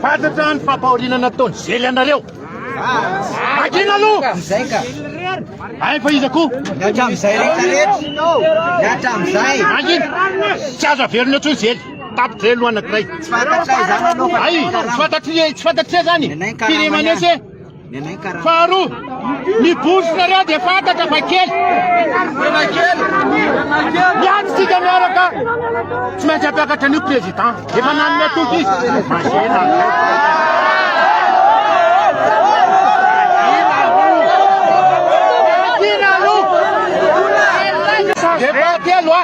Fantatra ny fampahoriana nataony zely anareo. Magina aloha! Izay ka. Ay fa iza koa? Ny hatramin'izay rehetra rehetra. Ny hatramin'izay. Magina! Tsy azo averina intsony zely. Tapitra aloha anankiray. Tsy fantatray izany aloha fa. Ay, tsy fantatria, tsy fantatria izany. Nenay ny karama ihany. Firemanese. Faharoa, ny bourse-nareo dia fantatra fa kely. Tena kely. Miady isika miaraka. Tsy maintsy hampiakatra an'io président. Efa nanome toky izy. Mazena. Depart aloha.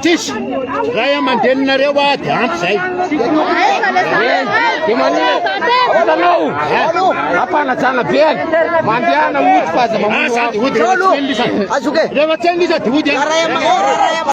Tsisy! Ray aman-dreninareo ady ampy zay. Dia manina olanao ampanajana be any mandehana ody fa aza mamono azy. Ody rehefa tsy eny lisa dia ody.